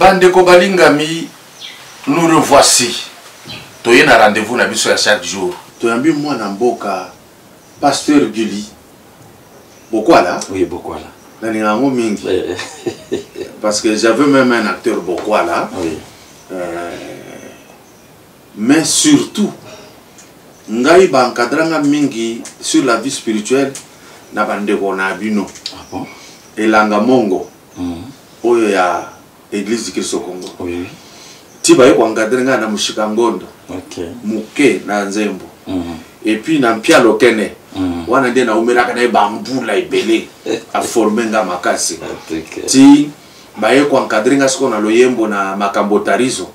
Bandeko balingami, nous revoici. Toye na rendez-vous na biso ya chaque jour. Toyambi mwana mboka Pasteur Gully. Bokwala? Oui, Bokwala. Nalinga yango mingi. Eh, eh. Parce que j'avais même un acteur Bokwala. Oui. Euh, mais surtout ngai bankadranga mingi sur la vie spirituelle na bandeko na bino ah bon? elanga mongo oyo ya eglise du christ au congo oui. ti baye koencadre ngai na moshika ngondo okay. moke na nzembo mm. epuis na mpia lokene mm. wana nde naumelaka na ye bambula ebele aforme nga makasi ti baye koencadre nga sikoyo na loyembo na makambo tarizo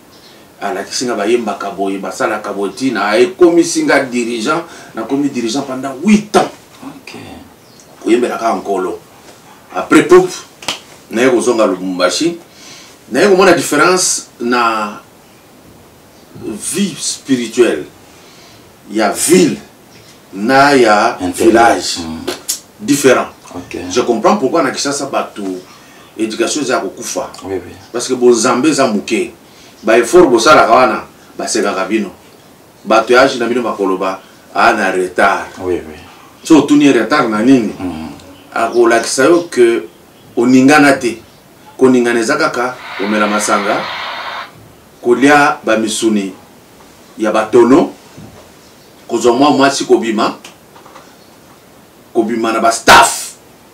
alakisi nga bayembaka boye basalaka boye ti na ekomisi nga dirigeant nakomi dirigeant pendant 8 ans okay. koyembela kaka nkolo après pop naye kozonga lubumbashi naye komona différence na vie spirituelle ya ville na ya village mm. différent okay. je comprends pourquoi na kisasa bato éducation eza ya kokufa oui, oui. parce que bozambe eza moke baeffort bosalaka wana basekaka bino bato ya age na bino bakoloba aa ah, na retard oui, oui. so otuni retard na nini mm -hmm. akolakisa yo ke oningana te koningana eza kaka komela masanga kolia bamisuni ya batono kozwa mwa mwasi kobima kobima na bastaff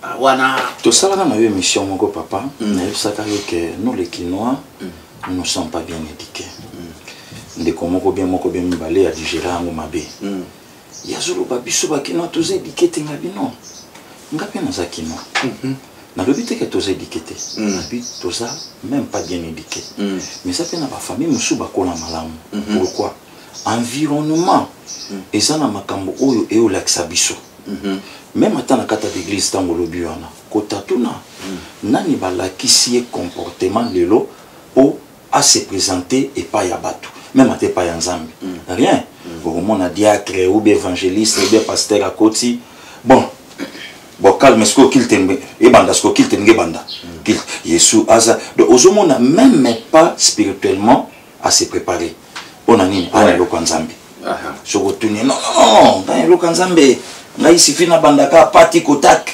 Ah, wana tosalaka na yo émission moko papa mm. nayebisaka yo ke nous les kinois mm. nous ne sommes pas bien éduqués mm. ndeko moko bien moko bien mibale ya digere yango mabe mm. yazoloba biso bakinois toza éduqué te nga bino nga mpe naza kinois mm -hmm. nalobi te ke toza éduqué te mm. nabi toza même pas bien éduqué mm. mais eza mpe na bafamille mosusu bakola malamu mm -hmm. pourquoi environnement mm. eza na makambo oyo eolakisa biso mm-hmm. meme ata na kati ya baeglise ntango olobi wana kotatuna mm. nani balakisi ye comportement lelo mpo ase présente epai ya bato meme ata epai ya nzambe mm. rien okomona diacre ou be évangéliste ou be pasteur akoti bon bon calme sikoyo kilte ebanda sikoyo kilte ndenge ebanda kilte yesu aza donc ozomona meme pas spirituellement a se préparer mpo na nini aa na eloko ya nzambe soki otuni non non ngai na eloko ya nzambe ngai sifi nabandaka pati kotake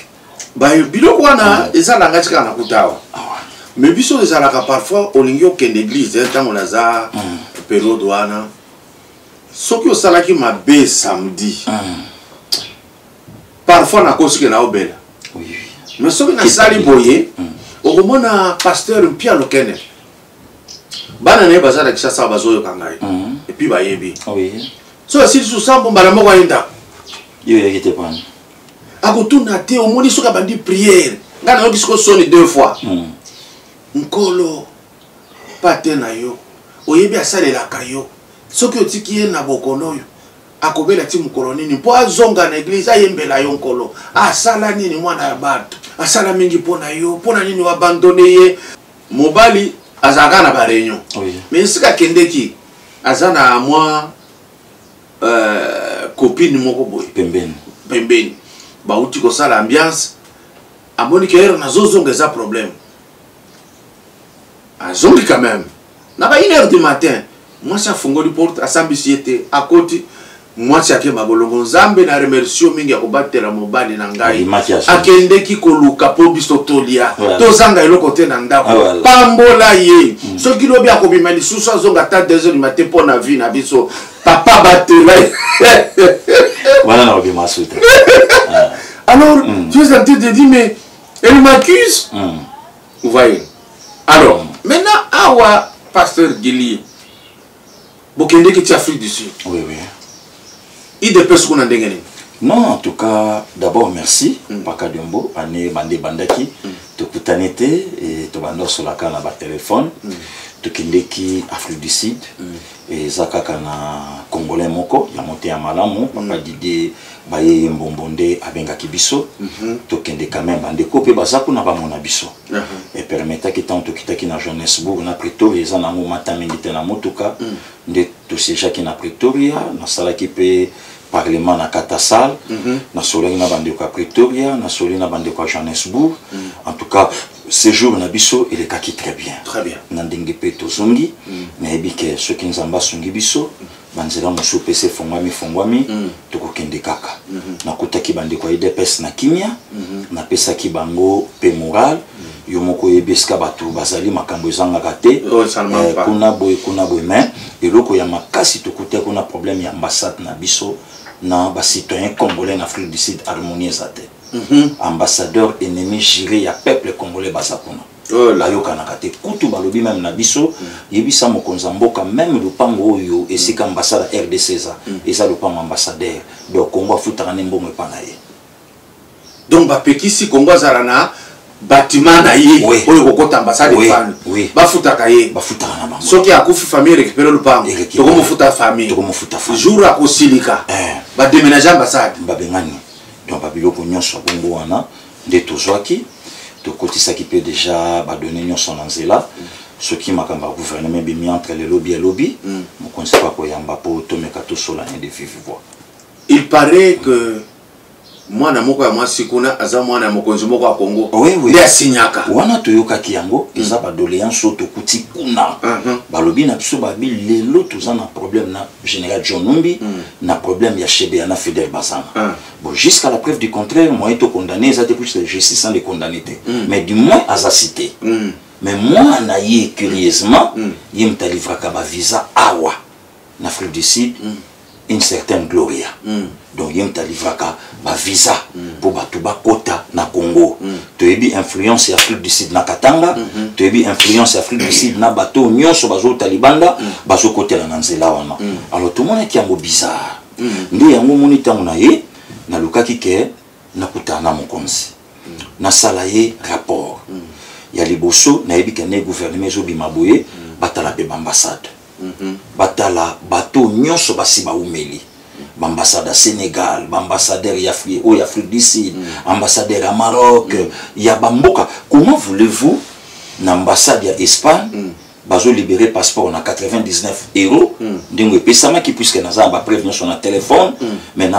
biloko wana eza na ngai tikaka nakuta awa mais biso ezalaka parfois olingi okende église ntango naza hmm. periode wana soki osalaki mabe samedi hmm. parfois nakosike na obela mais soki nasali boye hmm. okomona pasteur mpialo kene bana na ye baza na kisasa bazoyoka ngai mhm. epuis bayebi ah so asili susu sambo mbala moko aye ndako yo oyaki te pana akotuna te omoni soki abandi priere ngai nayoki siko soni deux fois mhm. nkolo pate na yo oyebi asalelaka yo soki otiki ye na bokono oyo akobela ti mokolo nini mpo azonga na eglize ayembela yo nkolo asala nini mwana ya bato asala mingi mpo na yo mpo na nini oabandone ye mobali azalaka na bareunion oui. mais esika akendeki aza na mwa euh, copine moko boye pembeni pembeni bauti kosala ambiance amoni ke ere nazozonga eza problème azongi quand même na ba une heure du matin mwasi afungoli porte asambisi ye te akoti mwasi akemba bolongo nzambe na remercie mingi ya kobatela mobali na ngai akendeki koluka mpo biso tolia tozanga eloko te na ndako ah, pambola ye mm. soki lobi akobima lisusu azonga ata deux heures mate mpo na vie na biso papa batela wana nakobima suta ah. alors mm. tu es en train de dire mais elle m'accuse mm. vous voyez alors maintenant awa pasteur guili bokendeki ti afrique du sud oui, oui. idps kuna ndenge nini non en tout cas d'abord merci mm. paka diombo ane bande ebandaki mm. tokutani te e, tobanda osolaka na batelefone mm. tokendeki afrique du sud mm. eza kaka na congolais moko ya moteya malamu mm. papa didie bayeye mbombo nde abengaki biso mhm. tokende quand même bandeko mpe baza kuna bamona biso mhm. epermetaki ntango tokitaki na johannesbourg na pretoria eza nango mata mingi te na motuka mm. nde tosejaki na pretoria nasalaki mpe parlement na katasal mm -hmm. nasolaki na bandeko ya pretoria nasoli na bandeko ya johannesburg mm -hmm. en tout cas séjour na biso elekaki très bien, très bien. na ndenge mpe tozongi mm -hmm. nayebi ke soki nzambe asungi biso mm -hmm. banzela mosusu mpe se efongwami efongwami mm. tokokende kaka mm -hmm. nakutaki bandeko ya idps na kimia mm -hmm. napesaki bango mpe moral yo moko oyebi esika bato bazali makambo ezangaka te eh, kuna boye kuna boye mais eloko ya makasi tokuta kuna problème ya ambassade na biso na bacitoyen congolais na afrique du sud harmonie eza te mhm. ambassadeur ennemi juré ya peuple congolais baza kuna oh bayokanaka te kutu balobi meme na biso mhm. yebisa mokonzi ya mboka meme lopango oyo esika ambassade ya rdc eza mhm. eza lopango ambassadeur donc congo afutaka nde mbongo epa na ye donc bapekisi kongo azala na batima na ye oyo kokota ambasade efani bafutaka ye soki akufi famille récupere lupango tokomofuta famille jour akosilika eh. bademenage ambasade babengani donc babiloko nyonso ya bongo wana nde tozwaki tokotisaki mpe deja badone nyonso na nzela soki makambo ya gouvernement ebimi entre lelobi elobi mm. mokonzi mpe akoyamba mpo tomeka tosola ne de vive voix il paraît que mwana moko ya mwasi kuna aza mwana ya mokonzi moko ya kongo nde asinyaka wana toyokaki yango hmm. eza badoleance oyo tokuti kuna uh-huh. balobi na biso babi lelo toza na problème na général john numbi hmm. na problème ya shebea na fidèle bazana ah. bon jusqu'à la preuve du contraire moyen tokondamne eza te plus la justice sans le condamne te hmm. mais du moins aza cité mais mwana ye curieusement ye moto alivraka bavisa awa na Afrique du Sud mm. une certaine Gloria mm. donc ye moto alivraka bavisa mm. mpo bato bakota na Congo mm. toyebi influence ya Afrique du Sud na Katanga mm -hmm. toyebi influence ya Afrique du Sud na bato oyo nyonso bazouta libanda mm. bazokotela na nzela wana mm. alors tomonaki yango bizarre mm. nde yango omoni ntango na ye nalukaki ke nakutana na mokonzi mm. nasala ye rapport mm. ya liboso nayebi kende gouvernement ezobima boye mm. batala mpe baambassade Mhm. batala bato nyonso basi baumeli baambassade ya sénégal baambassadeur oyo afrique du sud mm. ambassadeur ya maroc mm. ya bamboka comment voulez-vous na ambassade ya espagne mm. bazolibere passeport na 99 euro mm. ndenge epesamaki puiske naza na bapreuve nyonso na telefone mm. mais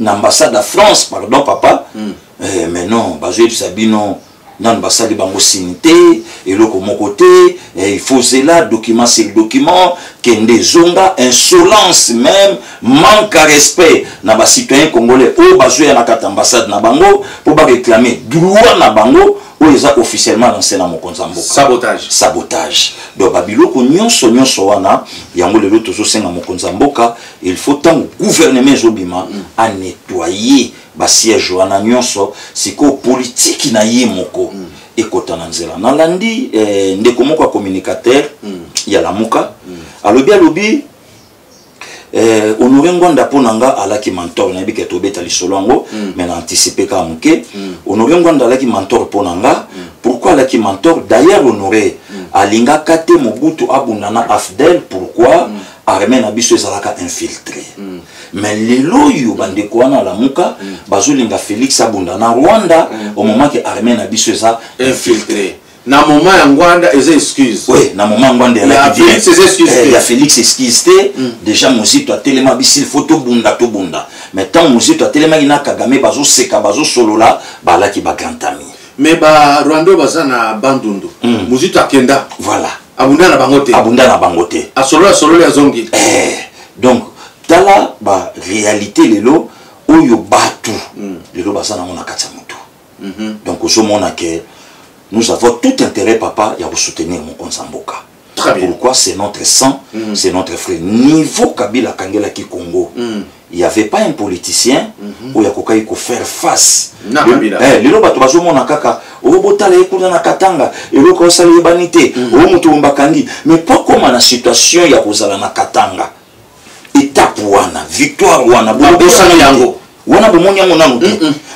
na ambassade ya france pardon papa mm. eh, mais non bazoyebisa bino nanu basali bango sini te eloko moko te eh, il faut zela document sur document kende ezonga insolence même manque à respect na bacitoyen congolais oyo bazoya na kati ambassade na bango mpo baréclame droit na bango oyo eza officiellement na nse na mokonzi ya mboka sabotage sabotage donc babiloko nyonso nyonso wana yango lelo tozosenga mokonzi ya mboka il faut ntango gouvernement ezobima mm. anetoye ba siège wana nyonso sikoyo politiki na ye moko mm. ekota na nzela nalandi eh, ndeko moko ya communicateur mm. ya lamuka mm. alobi alobi eh, honore ngwanda mpo na nga alaki mentor nayebi ke tobeta lisolo yango mm. me na anticipe kaka moke mm. honore ngwanda alaki mentor mpo na nga mm. pourquoi alaki mentor d'ailleurs honore mm. alingaka te mobutu abunda na afdel pourquoi mm. armée na biso ezalaka infiltré mm. mais lelo oyo bandeko wana alamuka mm. bazolinga félix abunda na rwanda mm. omomaki armée na biso eza infiltré na moment ya ngwanda eza excuse oui na moment ngwanda ya félix eza excuse eh, ya félix excuse te mm. déjà mozito atelema bisil faut tobunda tobunda mais ntango mozito atelemaki na kagame bazoseka bazosolola balaki bagrand ami mais barwanda oyo baza na bandundu mm. mozito akenda voilà abunda na bango te abunda na bango te asolola sololi azongi eh, donc tala ba réalité lelo oyo batu mm. lelo baza nango na kati ya motu mm -hmm. donc ozomona ke nous avons tout intérêt papa ya kosoutenir mokonzi ya mboka pourquoi c'est notre sang mm -hmm. c'est notre frère niveau kabila akangelaki congo mm. il y avait pas un politicien mhm. oyo akokaki kofaire face eh, lelo bato bazomona kaka oyo oh, botala ye kuna na katanga eloko osala eyebani te mhm. oyo oh, moto bakangi mais po akoma na situation ya kozala na katanga etape wana victoire wana bobosani yango wana bomoni yango nanu te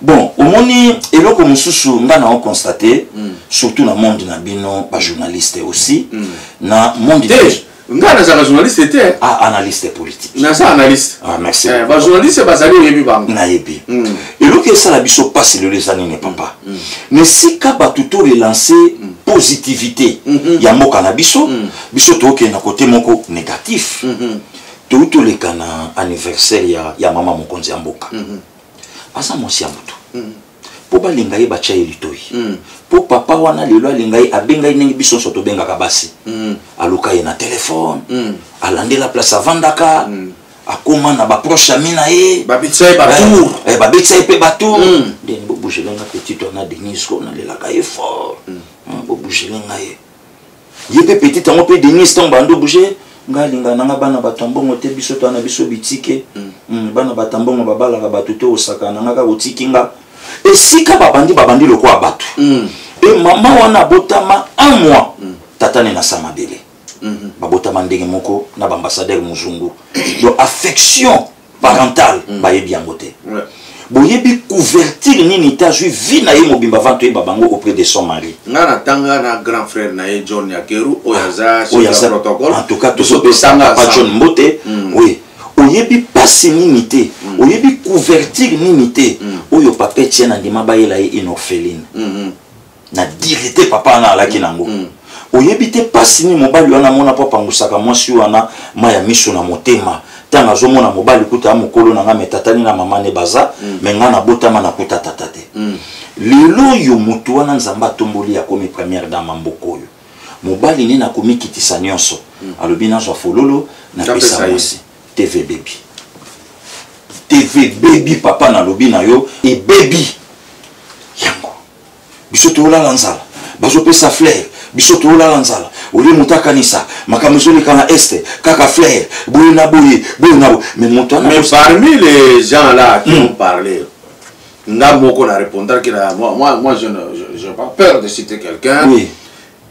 bon omoni eloko mosusu nga na oconstate mm. surtout na monde na bino bajournaliste aussi mm. na monde hey. Eh, nga nazalaka journaliste te ah, analyste politique naza analyste ah, merci eh, bajournaliste bazali oyebi bango nayebi mm. eloko esala biso mpasi lelo eza nini papa mm. mm. na esika bato to relance mm. positivité mm -hmm. ya mboka na biso mm. biso tookende na kote moko négatif mm -hmm. touti toleka na anniversaire ya, ya mama mokonzi ya mboka mm -hmm. aza mwasi ya moto mm -hmm mpo balinga ye batya ye litoi mpo mm. papa wana lelo alinga ye abenga ye ndenge biso nyonso tobengaka basi mm. aluka ye na telefone mm. alandela place avandaka mm. akoma na baproche ami na ye babetisa ye batour eh, eh, babetisa ye mpe batour mm. ndeni bobugele nga petit wana denise ko nalelaka ye fort mm. mm, bobugele nga ye ye mpe petit yango mpe denise ntango bando bouge ngai alinga nanga bana bato mbongo te biso toa na biso bitike mm. mm, bana bato mbongo babalaka bato te osaka nanga kaka otiki nga esika babandi babandi lokola bato mm. e mama wana abotama un mois mm. tata ne na sa mabele mm -hmm. babotama ndenge moko na baambassadeur mozungu donc affection parental mm. bayebi yango te ouais. boyebi couverture nini etats-unis vie na ye mobimba avant toyeba bango auprès de son mari nga natanga na grand frère na ye john yakeru oyo ah, aza oyo aza protocole en tout cas tozopesanga pa john mbote mm. oui oyebi pasi nini te mm. oyebi couverture nini te mm. oyo papa etienne andima bayela ye une orpheline mm -hmm. na dire te papa wana alaki nango mm. mm. oyebi te mpasi nini mobali wana amona mpo apangusaka mwasi wana ma ya miso na motema ntango azomona mobali kuta ya mokolo na ngai metatani na mama ne baza mm. me ngai nabotama nakuta tata te mm. lelo oyo motu wana nzambe atomboli akomi première dame mboka oyo mobali nini akomikitisa nyonso mm. alobi nazwa fololo napesa mwasi tv bebi tv bebi papa nalobi na yo ebebi biso tolala nzala bazopesa flaire biso tolala nzala olie moto akanisa makambo ezoleka na este kaka flaire boye na boye boye na boye mais moto mais parmi les gens là qui hmm. ont parlé nga moko na répondaki na moi, moi, moi je, je, je pas peur de citer quelqu'un oui.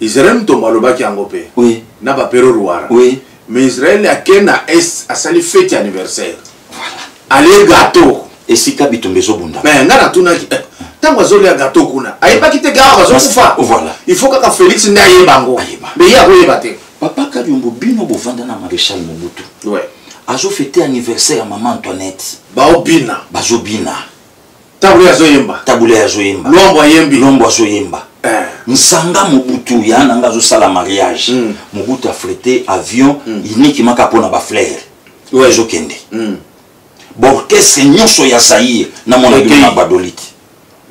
Israel Mutombo alobaki yango pe. Oui. Na ba Pero Ruara. Oui. Mais Israel ake na Est asali fête anniversaire. Voilà. Allez gâteau. Esika bitumba ezobunda. Mais nga natunaki eh, ntango azolia gato kuna ayebaki te gawa bazokufa voilà. il faut kaka félix nde ayeba yango mais ye akoyeba te papa kadiombo bino bovanda na maréchal mobutu ouais. azofete anniversaire ya mama antoinette baobina bazobina Tabule azoyemba. Tabule azoyemba. Lombo ayembi. Lombo azoyemba. Eh. Nsanga Mobutu ya nanga azosala mariage. Mm. Mobutu afrete avion mm. uniquement kaka mpona baflere. Ouais. Ezokende. Mm. Borchestre nyonso ya Zaire namona bino na Badolite.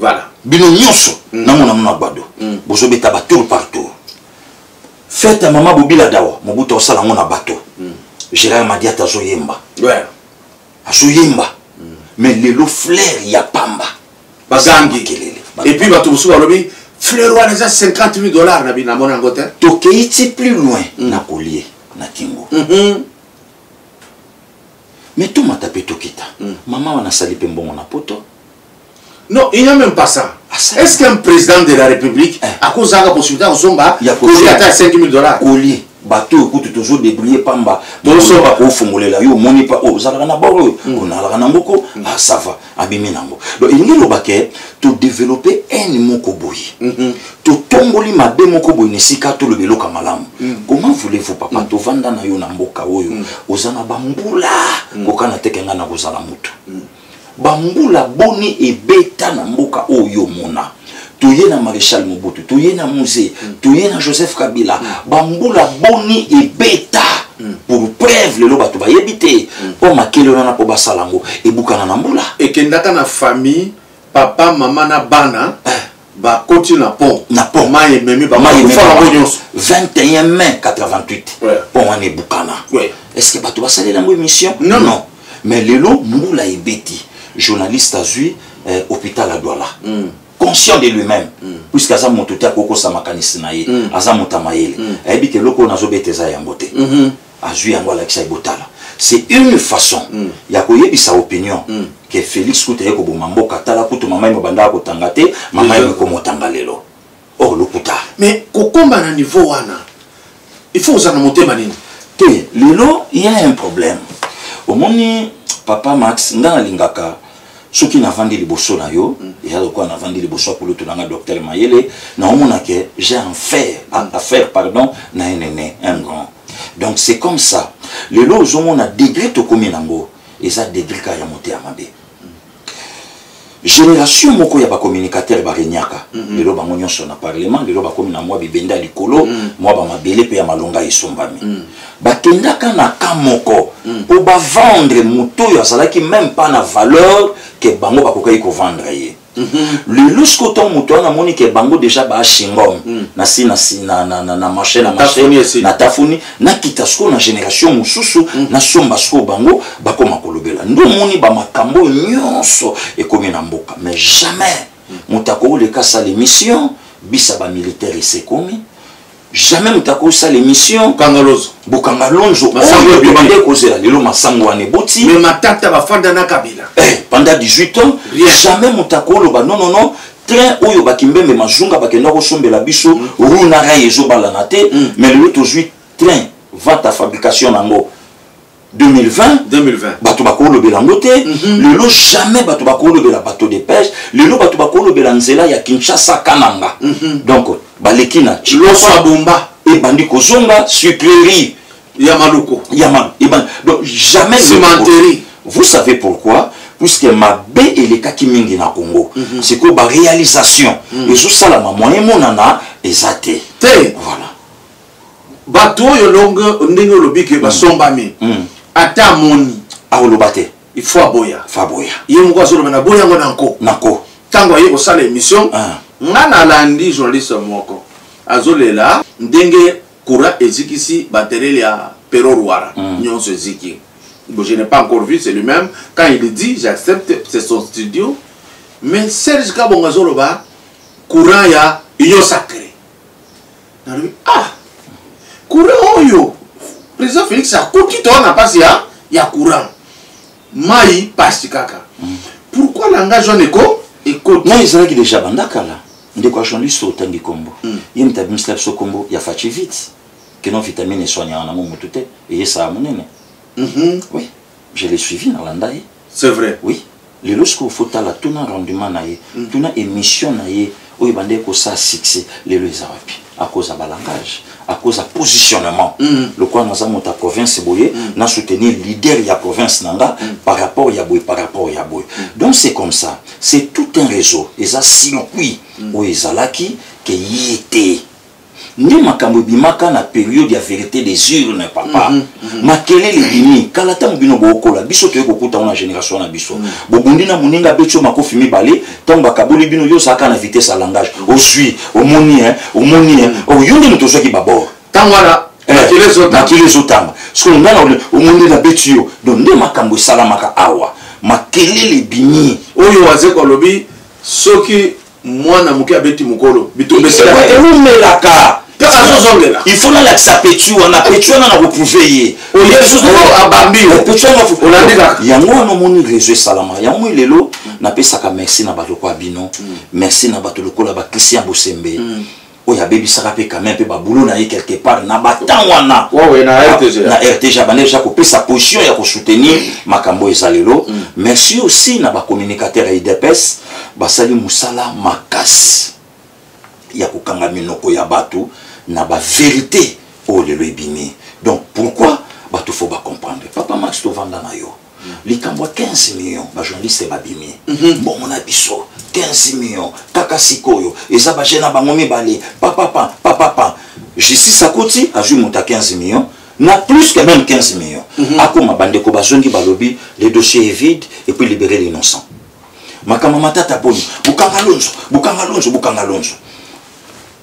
Voilà. Bino nyonso mm. namona mona Bado. Mm. Bozobeta ba tour par tour. Fête ya mama Bobila Dawa Mobutu asala ngo na bateau. Mm. Gérard Madiata azoyemba. Ouais. azoyemba mais lelo flair ya pamba bagangi kelele epuis bato mosusu balobi fleur wana eza 50 000 dollars na bino namona yango te tokei ti plus loin mm. na kolie na kingo mm -hmm. me tomata mpe tokita mm. mama wana asali mpe mbongo na poto Non, il n'y a même pas ça. Ah, Est-ce qu'un président de la République eh. a causé la possibilité de Zomba Il y a causé à 5 000 dollars. Collier. bato oyo kutu tozodebrouille pamba tozosoba kofungolela yo omoni pa oyo oh, ozalaka na bor oyo mm. onalaka na ngoko asava mm. ah, abimi na yango donc elingi eloba ke todeveloppe haine moko boye mm-hmm. totomboli mabe moko boye na esika toloba eloka malamu mm. comment voulez-vous papa tovanda na yo na mboka oyo oza na bambula kokana teke ngai nakozala motu bambula boni ebeta na mboka oyo omona toye na maréchal mobutu toye na musée mm. toye na joseph kabila mm. bambula boni ebeta mm. pour preuve lelo bato bayebi te mpo makele wana mpo basala yango ebukana na mbula ekendaka na famille papa mama na bana eh. bakoti na pont na pont mai ememi bakufa bango nyonso 21 mai 88 pont wana ebukana est ce que bato basalela yango émission non non mais lelo mbula ebeti journaliste azwi eh, hôpital ya douala mm. conscient de lui-même mm. puisque aza moto te akokosa makanisi na ye mm. aza moto ya mayele mm. ayebi te eloko oyo nazobeta eza yango te mm -hmm. azwi yango alakisa ye botala c'est une façon mm. ya koyebisa opinion mm. ke félix kuta ye koboma mboka tala kutu mama ye mobandaka kotanga te mama ye mikomotanga lelo or oh, lokuta mais kokomba na niveau wana il faut ozala na motema nini te lelo ya un problème omoni papa max nga nalingaka soki navandi liboso na yo mm. eza lokola navandi liboso ya kulutu nanga docteur mayele naomona ke j'ai un faire mm. affaire pardon na enene un grand donc c'est comme ça lelo ozomona degré tokomi nango eza degré kaka ya moto ya mabe mm. génération moko ya bacommunicateur baregnaka mm-hmm. lelo bango nyonso na parlement lelo bakomi na mwa bibenda likolo mwa bamabele mpe ya malonga esombami bakendaka na ka moko hmm. po bavendre moto oyo azalaki meme pas na valeur ke bango bakokaki kovendre ye hmm. lelo siko ntango moto wana amoni ke bango deja baashingom hmm. nasi na marché na marché na tafuni nakita sikoyo na génération mosusu nasomba sikoyo bango bakoma kolobela nde omoni bamakambo oyo nyonso ekomi na mboka mais jamais moto akooleka asala émission bisa bamilitaire esekomi jamais moto akosala émission kangalozo bokanga lonzo oyo tobanda ekozela lelo masango wana eboti mais matata bafanda na kabila eh, pendant 18 ans Rien. jamais moto akoloba non non non train oyo bakimbembe mazunga bakenda kosombela biso mm. rue na rail ezobalana te mm. mais lelo tozwi train vente à fabrication na yango 2020, 2020. bato bakolobela yango te mm -hmm. lelo jamais bato bakolobela bato de pêche lelo bato bakolobela nzela ya kinshasa kananga mm -hmm. donc baleki na loso ya bomba ebandi kozonga sucrerie ya maloko ya mal ebandi donc jamais cimenterie vous savez pourquoi puisque mabe elekaki mingi na congo mm -hmm. sikoyo baréalisation mm -hmm. ezosalama moyen emonana eza te te voilà bato oyo longue ndenge olobi ke basombami mm. mm. ata amoni akoloba te il faut aboya faut aboya ye moko azoloba na boya yango na nko na nko ntango aye kosala émission ah. nga nalandi journaliste moko azolela ndenge courant ezikisi baterele ya pero rwara mm. nyonso eziki bon, je n'ai pas encore vu c'est lui-même quand il dit j'accepte c'est son studio mais serge kabongo azoloba courant ya union sacré nalobi ah courant oyo président félix akuti toa na mpasi ya, ya courant mai mpasi kaka mm. pourquoi langage wana eko ekoti mai ezalaki déjà banda kala ndeko ya journaliste otangi nkombo mm. ye moto abimisela biso nkombo ya faci vite keno vitamine eswanyaka nango motu te eyesaka monene mm -hmm. oui je l'ai suivi nalanda ye c'est vrai oui lelo sikoyo fotala tuna rendement na ye mm. tuna émission na ye oyo ebandaki kosala succès lelo eza wapi akoza balangage akoza positionnement mm. lokola naza moto ya province boye mm. na soutenir leader ya province na nga mm. par rapport ya boye par rapport ya boye mm. donc c'est comme ça c'est tout un réseau eza circuit mm. oyo ezalaki ke ye te nde makambo ebimaka na periode ya verité des urnes papa mm -hmm. makelele ebimi kala ntango bino bookola biso toye kokuta ngo na génération na biso mm -hmm. bobundi na moninga abeti yo makofi mibale ntango bakaboli bino yo ozalaka na vitesse ya langage ozwi omoni e omoni e oyo yo nde moto ozwaki babor ntango wana makele ezotanga sikoyo ngai na omoni nabeti yo donc nde makambo esalamaka awa makelele ebimi oyo wazeko alobi soki mwana moke abeti mokolo bitumba esilaeumelaka il faut nalakisa petu wana petu wana na koprouve ye yango wana omoni réseau esalama yango moi lelo napesaka merci na bato lokola bino merci na bato lokola bakristian bosembe oyo abebisaka mpe quand même mpe babulo na ye quelque part na batemp wana na rtg abanda deja kopesa position ya kosoutenir makambo oyo eza lelo mm. merci aussi na bacommunicateur ya idps basali mosala makasi ya kokanga minoko ya bato na baverité oyo lelo ebimi donc pourquoi bato fo bacomprendre papa max tovanda na yo likambo ya 15 million bajournaliste babimi mhm. mbongo na biso 15 million kaka sikoyo eza baje na bango mibale papapa papapa justice akoti azwi moto ya 15 million na plus que même 15 million mhm. akoma bandeko bazongi balobi le dossier est vide et puis libérer l'innocent makambo matata boni bukanga lonzo bukanga lonzo bukanga lonzo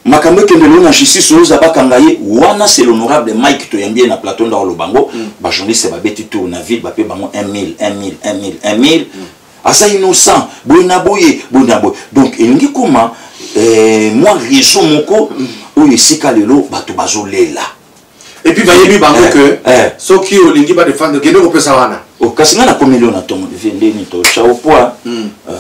makambo ekende lelo na justice oza bakanga ye wana c'est l'honorable mike toyambi ye na plateau ndako aloba yango mm. bajournaliste babeti tour na ville bape bango 1000 1000 1000 1000 aza innocent boye na boye boye na boye donc elingi koma eh, mwa réseau moko mm. oyo esika lelo bato bazolela et puis bayebi bango eh, que eh. soki olingi ba défendre kende kopesa wana oh, kasi ngai nakomi leo na tongo devie ndeni to chao poa hmm. euh,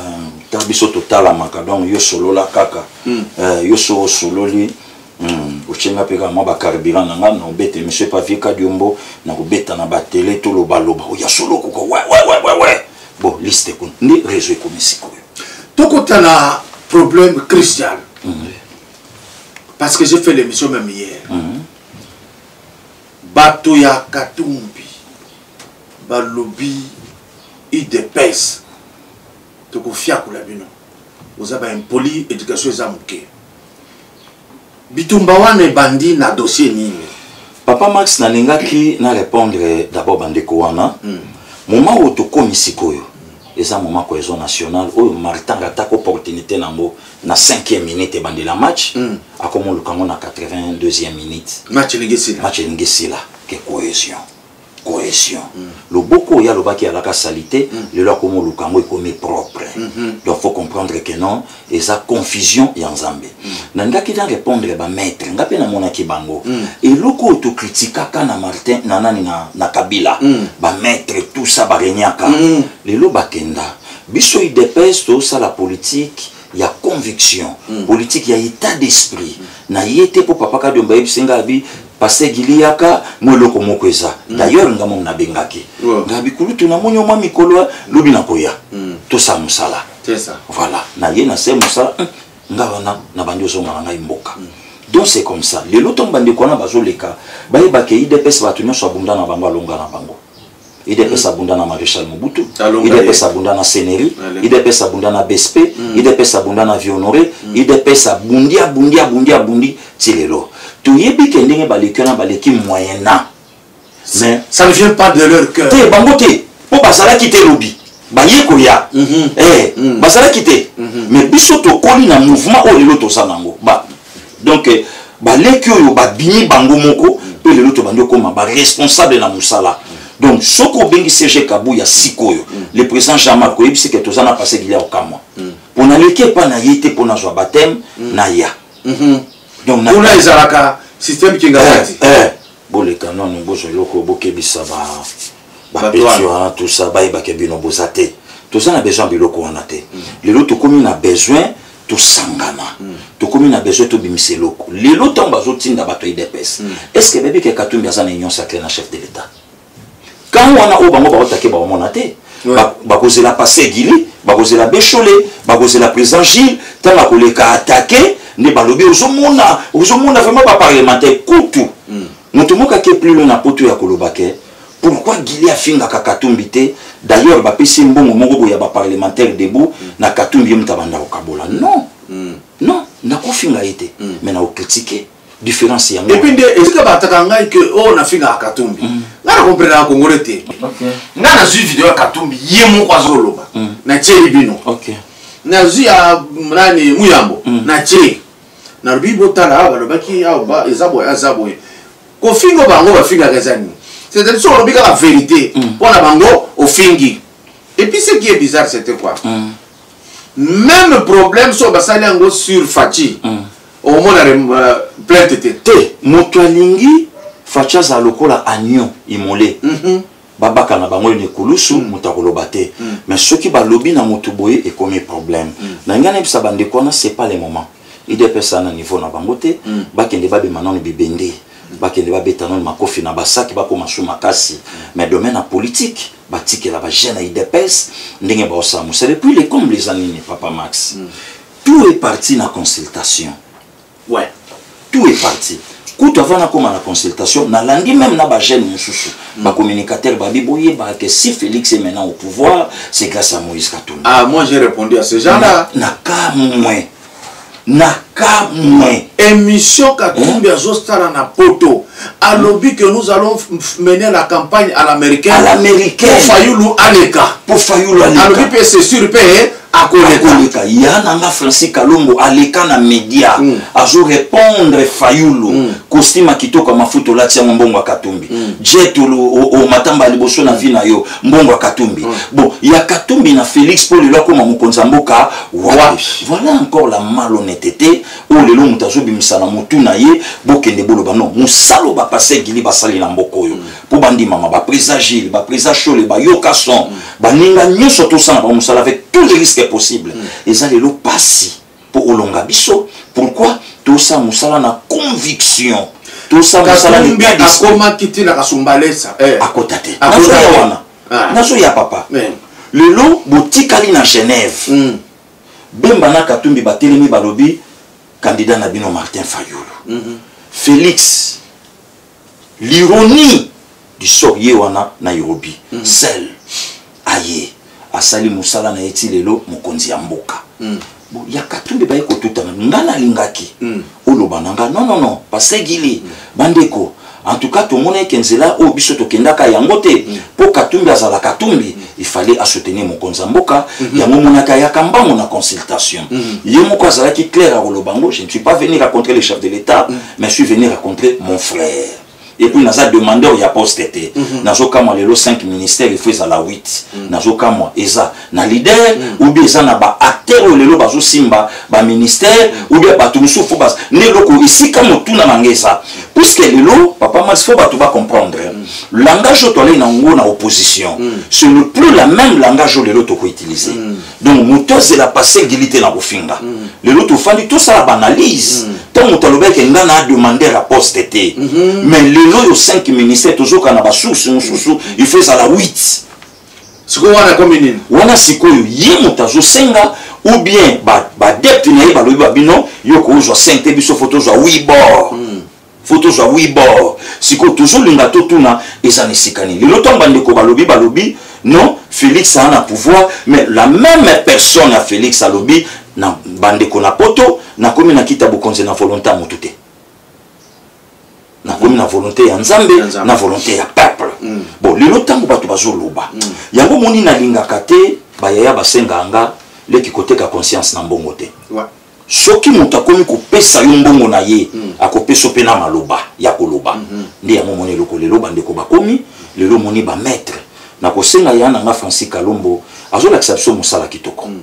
ta biso totalamaka donc yo solola kaka hmm. euh, yo so osololi hmm, otie nga mpe kaka mwa bacarburant na ngai nobete monsieur pavier kadiombo nakobeta na batele tolobaloba oya oh, solo okoka wewewewewe bon liste kuna nde réseau ekomi sikoyo tokota na problème christian parce que j'ai fait l'émission même hier mm -hmm. bato ya katumbi balobi udps tokofiakola bino oza baimpoli éducation eza moke bitumba wana ebandi na dossier nini papa max nalingaki na répondre d'abord bandeko wana mm. moment oyo tokomi sikoyo eza moma cohésion nationale oyo martanga atako opportunité na yango na 5e minute ebandela match mm. akomoluka yango na 82e minute match elingi esila match elingi esila ke cohesion cohesion mm. loboko oyo alobaki alaka salite mm. lelo akomoluka yango ekomi propre mm -hmm. donc faut comprendre que non eza confusion ya nzambe mm. nalingaki na répondre bamaître ngai mpe namonaki bango mm. eloko oyo tokritikaka na martin na nani na, na kabila mm. bamaître tout ça baregnaka mm. lelo bakenda biso udps tosala politique ya conviction mm. politique ya état d'esprit mm. na ye te mpo papa kadiomba ayebisi ngai abi paster gili yaka mwa eloko moko eza mm. d'ailleurs ngai mom nabengaki wow. ngai bikulutu namoni yo mwa mikolo lobi nakoya mm. tosala mosala voilà na ye na se mosala mm. ngai wana nabandi ozonga na ngai mboka mm. donc c'est comme ça lelo ntango bandeko wana bazoleka bayebaka idps bato nyonso abunda na bango alonga na bango idps abunda na maréchal mobutu idps abunda na seneri idps abunda na bsp mm. idps abunda na vionore mm. idps abundi abundi abundi abundi ti lelo toyebi ke ndenge baleki wana baleki moyen na mais ça ne vient pas de leur cœur te bango te mpo bazalaki te lobi baye koya mhm. eh, mhm. bazalaki te mhm. mais biso tokoli na mouvement oyo lelo toza nango donc eh, baleki oyo babimi bango moko mpe lelo tobandi okoma baresponsable na mosala donc soki obengi cg kabuya sikoyo mm. le président jean marc oyebisi ke toza na passé gilia okamwa mm. mpo naleki epai na ye te mpo nazwa bateme mm. na ya mm-hmm. donc kuna ezalaka système kingakati eh, eh. boleka nano bozwa eloko bokebisa ba bapeti wana tout ça bayebake bino boza te toza na besoin ya biloko wana te mm. lelo tokomi na besoin tosangana mm. tokomi na besoin tobimisa eloko lelo ntango bazotinda bato ya idps mm. est ce que bayebi ke katumbi aza na union sacré na chef de l'état kan wana oyo bango baotake baomona te bakozela passe gili bakozela bechole bakozela président gilles ntango akoleka atake nde balobi ozomona ozomona vraiment baparlementaire kutu moto moko ake plus loin na poto ya koloba ke Pourquoi Guilly afingaka Katumbi te D'ailleurs bapesi mbongo moko boya ba parlementaire debout mm. na Katumbi ye moto abanda kokabola. Non. Mm. Non, nakofinga ye te. Mm. Mais nakocritiquer différence yango. Et puis nde ezika bataka ngai que oh nafingaka Katumbi. Mm. Nga na comprendre na Congolais te. Okay. Nga nazwi video ya Katumbi ye moko azoloba. Mm. Na tie bino. Okay. Nazwi ya nani Muyambo. Mm. Na tie. Nalobi botala balobaki awa eza boye aza boye. kofingo bango bafingaka eza nini c'est-à-dire soki olobi kaka vérité mm. mpo na bango ofingi et puis ce qui est bizarre c'était quoi mm. même problème soki basali yango sur faci mm. omona euh, plainte te te moto alingi faci azala lokola agnon imole mm -hmm. babaka na bango enekulusu mm. moto akoloba te mm. mais soki balobi na moto boye ekomi problème mm. na ngai nayebisa bandeko wana c'est pas le moment idps na niveau na bango te mm. bakende babima nano bibende mm. bakende babeta nano makofi na basaki bakoma su makasi mm. mais domaine ya politique batikela bagene ya idps ndenge baosala mosala epuis le comble eza nini papa max mm. tout est parti na consultation ouais tout est parti kutu avant nakoma na consultation nalandi même na bagene mosusu mm. bacommunicateur babi boyebaka que si félix est maintenant au pouvoir c'est grâce à moïse katumbi ah moi j'ai répondu à ce genre là nakamwe nakamwe émission katumbi eh? azosala na poto alobi que nous allons mener la campagne à l'américaine à l'américaine pour fayulu aleka pour fayulu aleka alobi mpe c'est sûr mpe akoleka ya na nga français kalombo aleka na media mm. azo répondre fayulu mm. kostima kitoko ya mafuta olati yango mbongo ya katumbi mm. jet omatamba liboso na vi na yo mbongo ya katumbi mm. bon ya katumbi na félix mpo lelo akoma mokonzi ya mboka wapi voilà encore la malhonnêteté oyo oh, lelo moto azobimisa na motu na ye bokende boloba non mosala oyo bapase gili basali na mboka oyo mpo mm. bandimama bapresa gile bapresa shole bayoka son mm. baninga nyonso tosala bango mosala avec tous les risques possibles mm. eza lelo mpasi mpo olonga biso pourquoi tosala mosala na conviction tosala mosala akomaki ntina kasumbalesa eh. akota te nazoya wana ah. nazoya papa eh. lelo botikali na genève mm. bemba na katumbi batelemi balobi candidat na bino martin fayulu mm -hmm. félix l'ironie du sort ye wana nairobi mm. sel aye asali mosala na ye ti lelo mokonzi ya mboka mm. bon, ya katumbi baye kotutana nga nalingaki mm. oloba na nga non non non pasegili mm. bandeko en tout cas tomona eke nzela oyo biso tokendaka yango te mpo mm. katumbi azala katumbi mm. ifale asoutenir mokonzi ya mboka mm-hmm. yango monaka ayaka mbango na consultation mm-hmm. ye moko azalaki claire akoloba yango je ne suis pas venir à contrer le chef de l'état mm. mais je suis venu rencontrer mon frère et puis naza demandeur ya poste te mm -hmm. nazokamwa lelo 5 ministère il faut ezala 8 mm -hmm. nazokamwa eza na leader mm -hmm. ou bien eza na baacteur oyo lelo bazosimba baministère mm -hmm. ou bien bato mosusu fo bas nde eloko esika motuna na ngai eza puiske lelo papa masi fo bato bacomprendre mm -hmm. langage oyo toalei na yango na opposition mm -hmm. ce ne plus la même langage oyo lelo tokoutiliser mm -hmm. donc moto azela pase gili te na kofinga mm. lelo tofandi tosala baanalyse ntango mm. moto alobaki ke ngai na ademande ya poste te mm-hmm. mais lelo oyo 5 ministère tozoka na basource mosusu mm. il faut ezala 8 sikoyo wana ekomi nini wana sikoyo ye moto azosenga ou bien badepte na ye balobi babino yo koozwa 5 te biso fo tozwa 8 bord faut tozwa wi bor sikoyo tozolinga totuna eza na esika nini lelo ntango bandeko balobi balobi non félix aa na pouvoir mais la même personne ya félix alobi na bandeko na poto nakomi na kita bokonzi na volonté ya motu te nakomi na volonté ya nzambe na volonté ya peuple mm. bon lelo ntango bato bazoloba mm. yango moni nalingaka te bayaya basenganga leki koteka conscience na mbongo te soki moto akomi kopesa yo mbongo na ye mm. akopesa yo mpe na maloba ya koloba mm -hmm. nde yango omoni eloko lelo bandeko bakomi lelo omoni bamaître na kosenga ya na nga francis kalombo azolakisa biso mosala kitoko mm.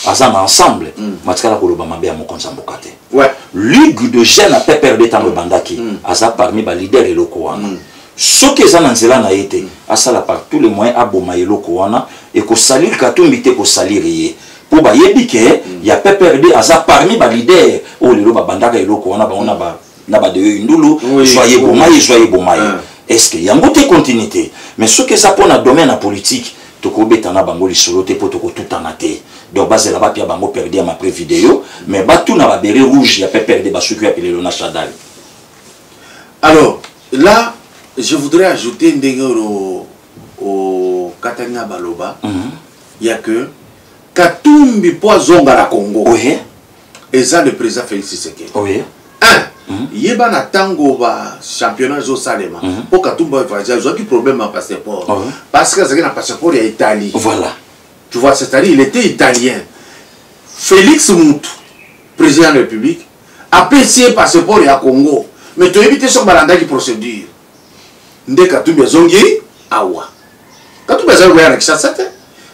aza na ensemble mm. matikala koloba mabe ya mokonzi ya mboka te ouais. ligue de jeune ya pprd ntango mm. ebandaki mm. aza parmi balider eloko wana mm. soki eza na nzela na ye te mm. asala par tous les moyens aboma eloko wana ekosalire katumbi te ekosalire ye po bayebi ke mm. ya pprd aza parmi ba leader oyo lelo babandaka eloko wana bango na ba na ba deyo indulu zwa ye boma ye zwa ye boma ye est ce que yango te continuité mais soki eza mpo na domaine ya politique tokobeta na bango lisolo te mpo tokotutana te donc bazela bapia bango perdi ya mapre video mais batuna babere rouge ya pprd basuki ya pilelo na chadal alors là je voudrais ajouter ndenge oyo okataki na baloba mm -hmm. ya que katumbi mpo azonga na congo oui. eza le président félix tshisekedi oui. un mm. yeba na ntango bachampionnat ezosalema mpo mm-hmm. katumbi bavage azwaki problème ya passeport oh. parce que azalaki na passeport ya italie voilà. tu vois c'est-à-dire il était italien félix mutu président de la république apesi ye passeport ya congo mais toyebi te soki balandaki procédure nde katumbi azongi awa katumbi azali koya na kinshasa te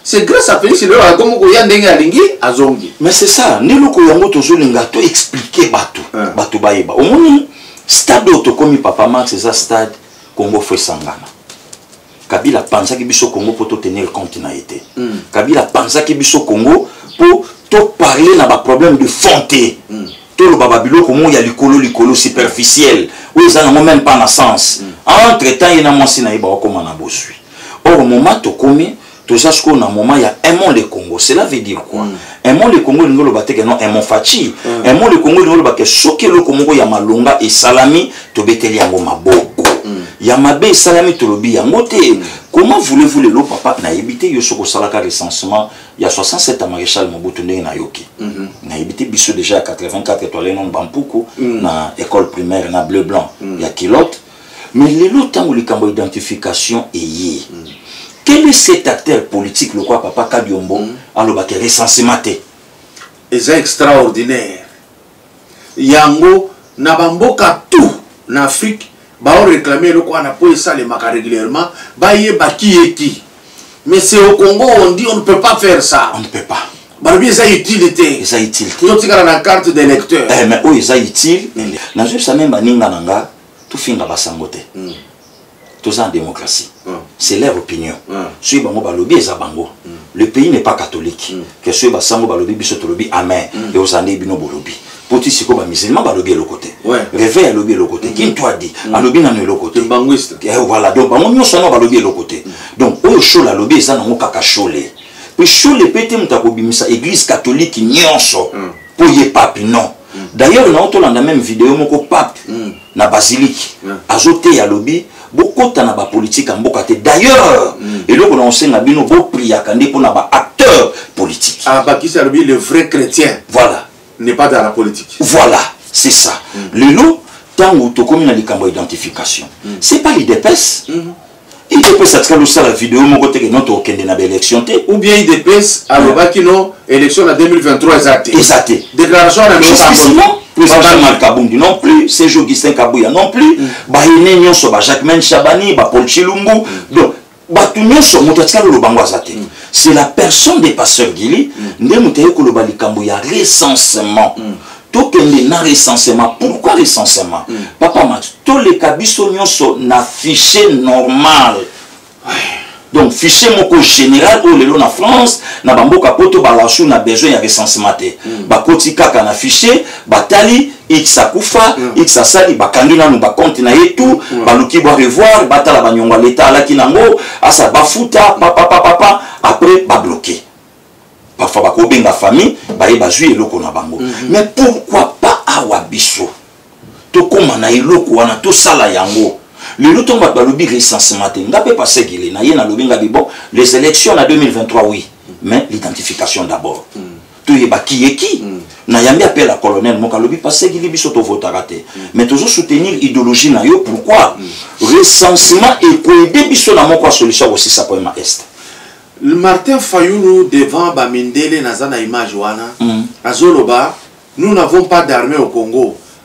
c'est grâce à félix lelo akomi koya ndenge alingi azongi mais c'est ça nde eloko yango tozolinga to expliquer bato hein. bato bayeba omoni stade oyo tokomi papa max eza stade congo fo esangana kabila apanzaki biso congo mpo totenir compte na ye te mm. kabila apanzaki biso congo mpo toparle na baproblème de fond te mm. toloba babiloko moko ya likolo likolo superficiel oyo eza nango meme pas na sens mm. entre temps ye na mwasi na ye baokoma na bozwi or moment tokomi toza sikoyo na moment ya aimons le congo cela veut dire quoi mm. aimons le congo elingi oloba te ke non aimons faci mm. aimons le congo elingi oloba ke soki eloko moko ya malonga esalami tobeteli yango maboko mm. ya mabe esalami tolobi yango te mm. comment voulez-vous lelo papa nayebi te yo soki osalaka recensement ya 67 ya maréchal mobutu ndenge nayoki mm -hmm. nayebi te biso déjà ya 84 etoile nano bampuku mm. na école primaire na bleu blanc mm. ya kilote mais lelo ntango likambo ya identification eye mm. quel est cet acteur politique lokola papa kadiombo mm. alobaka recensement te eza extraordinaire yango na bamboka tout na afrique baoreklame eloko wana mpo esalemaka régulièrement bayeba kiyeki Mais c'est au Congo, on dit on ne peut pas faire ça. On ne peut pas. balobi eza utile te eza utile te totikala na carte de lecteur eh, mais oyo eza utile mm. nazoyebisa meme baninga na nga tofinga basango te mm. toza na démocratie mm. c'est leur opinion soki bango balobi eza bango le pays n'est pas catholique que soki basango balobi biso tolobi amen eozala nde bino bolobi mpo ti sikoyo bamusulman balobi eloko te reveil alobi eloko te kintu adi alobi nano eloko te eh, voilà donc bango nyonso wana balobi eloko te mm. donc oyo shole alobi eza nango kaka shole mpe shole mpe te moto akobimisa église catholique nyonso mpo mm. ye papi non mm. d'ailleurs nao tolanda meme video moko pape na basilike azoteya alobi bokota na bapolitike ya mboka te d'ailleurs eloko na kosenga bino bopriaka nde mpo na baacteur politique abakisi ah, alobi le vrai chrétien voilà n'est pas dans la politique voilà c'est ça mm. lelo ntango tokomi na likambo ya identification mm. c'est pas l'idps mm -hmm. idps atikali osala video moko te keno tokokende na baélection te ou bien idps alobaki no élection na 2023 eza te eza te déclaration na justement Mal Kabundi non plus, Serge Augustin Kabuya non plus, mm. Bahine Nyonso, Jacquemin Chabani, Paul Chilumbu. Mm. Donc, bato nyonso moto atikali oloba yango aza te mm. c'est la personne de pasteur gili mm. nde moto aye koloba likambo ya recensement mm. tokende na recensement pourquoi recensement papa mat toleka biso nyonso na fichier normal donc fichier moko général oyo lelo na france na bamboka poto balasu na besoin ya recensement te bakoti kaka na fichier batali X akufa mm. X asali bakangi nanu bakonte na ye tout mm. baluki bwa revoir batala banyongo ya leta alaki nango asa bafuta papapapapa après babloke parfois bakobenga famille baye bazwi eloko na bango mm -hmm. mais pourquoi pas awa biso tokóma na eloko wana tosala yango lelo ntongo bato balobi recensement te nga mpe pasegele na ye nalobi nga bibo les élections na 2023 oui mais l'identification d'abord mm. toyeba kiyeki mm. nayambi appel ya colonel moko alobi pasegili biso tovotaka te mm. mais tozo soutenir idéologie na yo pourquoi mm. recensement ekoede biso na moko ya solution ya kosisa problème ya est martin fayulu devant bamindele naza na image wana mm. azoloba nous n'avons pas d'armée au congo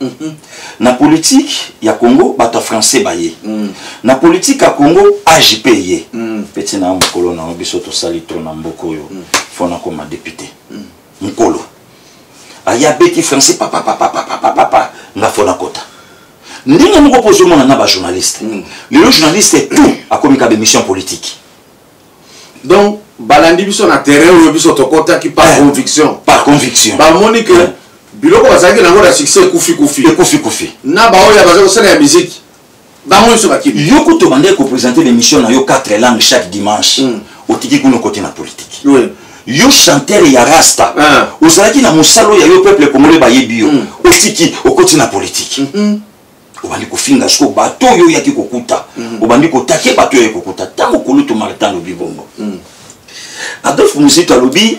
Mhm. na politique ya congo bato ya français baye mm. na politique ya congo agp eye mm. peti na ya mokolo na yo biso tosali tro na mboka oyo mm. fo nakoma depute mm. mokolo aye abeti français papapapapapapa nga fo nakota ndenge moko mpo ozomona na bajournaliste mm. lelo journaliste tout akomi ka bemission politique donc balandi biso na terrain oyo biso tokotaki par eh, conviction par conviction bamoni que eh. biloko bazalaki nango na succès ekufi kufi ekufi kufi na baoyo baza kosala ya miziki bango nyonso bakimi yo kutu obandaki kopresente l'émission na yo 4 langue chaque dimanche mm. otiki kuna kote na politike oui. yo chanteur ya rasta ah. ozalaki na mosala oyo ya yo peuple congolais bayebi yo mm. otiki okoti na politike mm -hmm. obandi kofinga siko bato oyo oyaki kokuta mm. obandi kotake bato oyo kokuta ntango kulutu martin alobi bongo mm. adolphe muzito alobi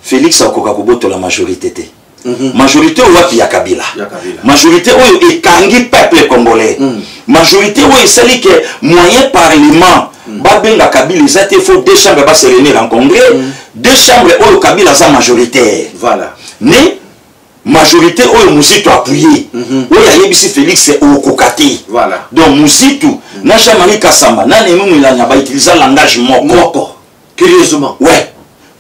félix akoka kobotola majorité te mm -hmm. majorité oyo wapi ya kabila, ya kabila. majorité oyo ekangi peuple congolais mm. majorité oyo esali ke moyen parlement mm. babenga kabila eza te faut deux chambres baselenir en congrès mm. deux chambres oyo kabila aza majoritaire voilà. ne majorité oyo muzitu apuye mm -hmm. oyo ayebisi félix okoka te voilà. donc muzitu mm -hmm. na jean marie kasamba na nenu milanya bautiliza langage moko moko curieusement ouais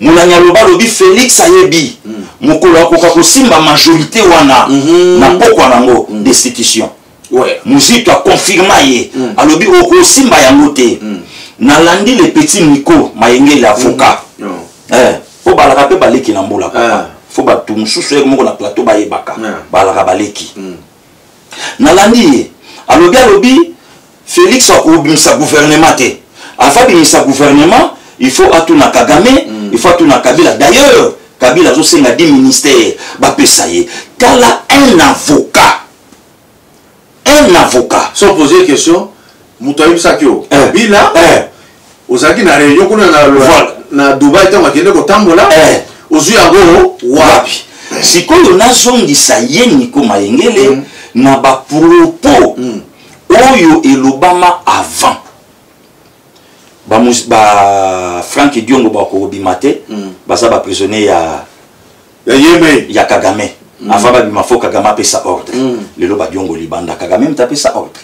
molani aloba alobi félix ayebi mm. mokolo akoka kosimba majorité wana mm -hmm. na pokwa nango mm. destitution ouais. muzito aconfirma ye mm. alobi okosimba yango te mm. nalandi le petit miko mayengeli avocat mm. oh. eh, po balaka mpe baleki na mbula papa ah. fo bato mosusu yeke moko na plateau bayebaka ah. balaka baleki mm. nalandi ye alobi alobi félix akobimisa gouvernement te afa abimisa gouvernement il faut atuna kagame mm. il faut atuna kabila d'ailleurs kabila azosenga 10 ministère bapesa ye tala un avocat un avocat sans poser question moto ayebisaki yo eh. kabila eh. ozalaki na réunion kuna na dubai ntango akende kotambola eh. ozwi yango wapi sikoyo nazongisa ye niko mayengele mm. na bapropos mm. oyo elobama avant bafrank ba, ba diongo bakobima te mm. baza baprisonnier ya ya yemei ya kagame mm. afa babima fo kagame apesa ordre mm. lelo badiongoli banda kagame mta apesa ordre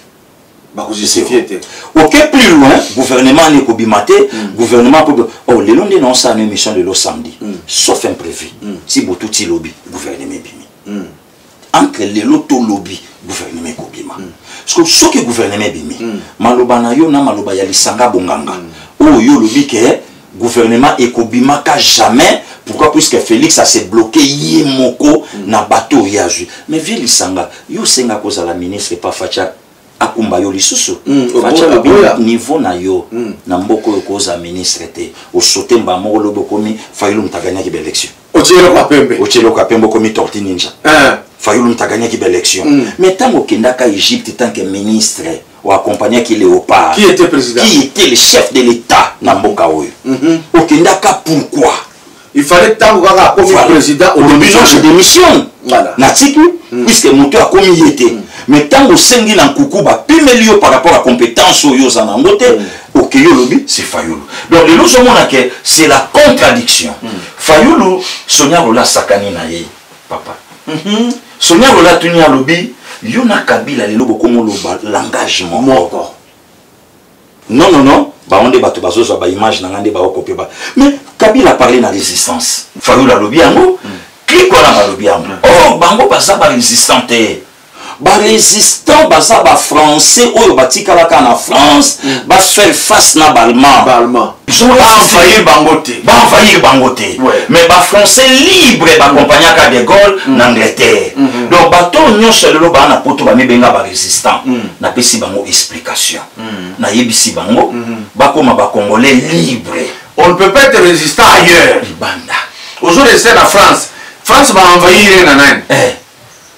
bakojustifie te oke plus loin gouvernement ani ekobima te mm. gouvernement po oh, lelo nde naosala na émission lelo samedi mm. sauf imprévu mm. ti butu ti lobi gouvernement ebimi mm. entre lelo to lobi gouvernement ekobima mm. siko soki gouvernement ebimi mm. maloba na yo na maloba ya lisanga bonganga mm. oyo yo olobi ke gouvernement ekobimaka jamais pourquoi puisque félix ase bloke ye moko mm. na bato oyo ye azwi mais vie lisanga yo osenga kozala ministre pa facha akumba yo lisusu mm, facha lobi niveau na yo mm. na mboka oyo okozala ministre te osote mbaa moko lobi okomi fayulu moto aganaki baélection otie eloko ya pembe otie eloko ya pembe okomi torti ninja eh. fayulu moto agagnaki baélection mm. mais ntango okendaka égypte tant que ministre oaccompagnaki léopard qui était président qui était le chef de l'état na mboka oyo mm -hmm. okendaka pourquoi il fallait ntango kaka akomi voilà. président olobi non je démissionne voilà. natiki mm. puisque moto akomi ye te mm. mais ntango osengi na nkuku bapimeli yo par rapport ya compétence oyo oza nango te mm. okeyi olobi c'est fayulu donc lelo ozomona ke c'est la contradiction mm. Fayulu Sonia Rola sakani na ye papa. Mm -hmm. Sonia Rola tuni alobi yo na Kabila lelo bokomo loba langage moko. Non non non bango nde bato bazozwa baimage na ngai nde baokope ba mais kabila parle na résistance fayulu alobi yango mm. klik wana balobi yango mm. o oh, bango baza barésistant te ba résistant baza ba français oyo batikalaka na france mm. ba faire face na balmand baenvahir bango te baenvahir bango te mais ba français libre bakompagnaka de gaulle mm. na angleterre mm -hmm. donc bato oyo nyonso lelo baa na poto bamibenga ba résistant mm. napesi bango explication mm. nayebisi bango mm -hmm. bakoma bacongolais libre on ne peut pas être résistant ailleurs libanda ozo reste na france france baenvahir ye na nani eh.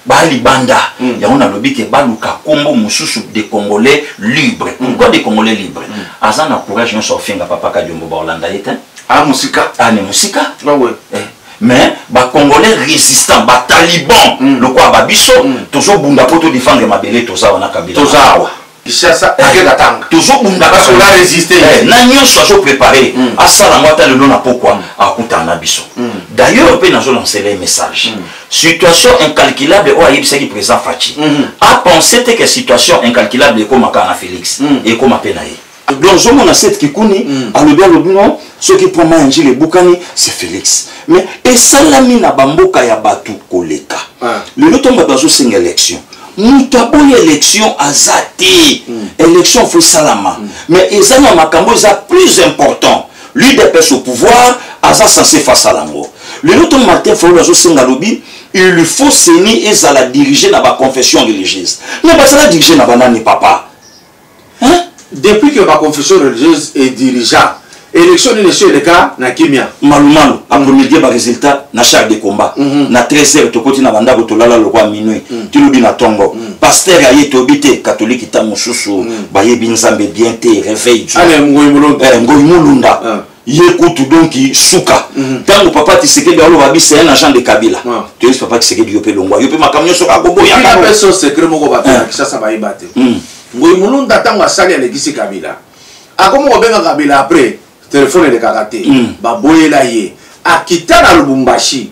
ba libanda mm. yango nalobi ke baluka kombo mosusu de congolais libre mm. pourquoi de congolais libre mm. aza na courage nyonso ofinga papa kadiombo baolanda ye te a ah, mosika ane ah, mosika ah, ouais. eh. mais bacongolais résistant bataliban mm. lokola babiso mm. tozobunda mpo todefendre mabele toza wana kabila toza awa Kinshasa eh. avec Katanga. Tozo bunda parce qu'on a résisté. Eh, na nyonso azo préparer. Hmm. Asala moi ata lelo na pokwa hmm. akutana na biso. Hmm. D'ailleurs pe nazo lancer les messages. Situation incalculable oyo ayebisaki président Fatshi. A pensé te que situation incalculable ekomaka na Félix. Ekoma pe na ye. donc ozomona sete kikuni mm. alobi alobi no soki mpo mai ya njili ebukani se félix mais esalami na bamboka ya bato koleka ah. lelo ntango bato bazosenga élection moto aboyi élection aza te mm. élection fo esalama mm. mais eza na makambo eza plus important l'udps au pouvoir aza censé face ala yango lelo to martin fayulu azosenga alobi il faut seni ezala dirige na baconfession religieuse mais bazala dirige na banani papa hein? depuis que ba confession religieuse est dirigeant élection nini esi eleka na kimia malumalu apromidie mm. baresultat na char de combat mm -hmm. na 13 heures tokoti na bandako tolala lokwa minui mm. tilobi na tongo mm. paster aye toyebi te katolike ta mosusu mm. bayebi nzambe bien te réveil ngoi mulunda ah. ye kutu donc suka ntango mhm. papa tisekedi aloba bisa ya na jean de kabila toyebisi papa tisekedi yo mpe longwa yo mpe makambo nyonso kaka koboyaso secret moko bato ya eh. kisasa bayeba te mm. ngoi mulunda ntango asali alekisi kabila akomi kobenga kabila après telefone elekaka te mm. baboyela ye akita na lubumbashi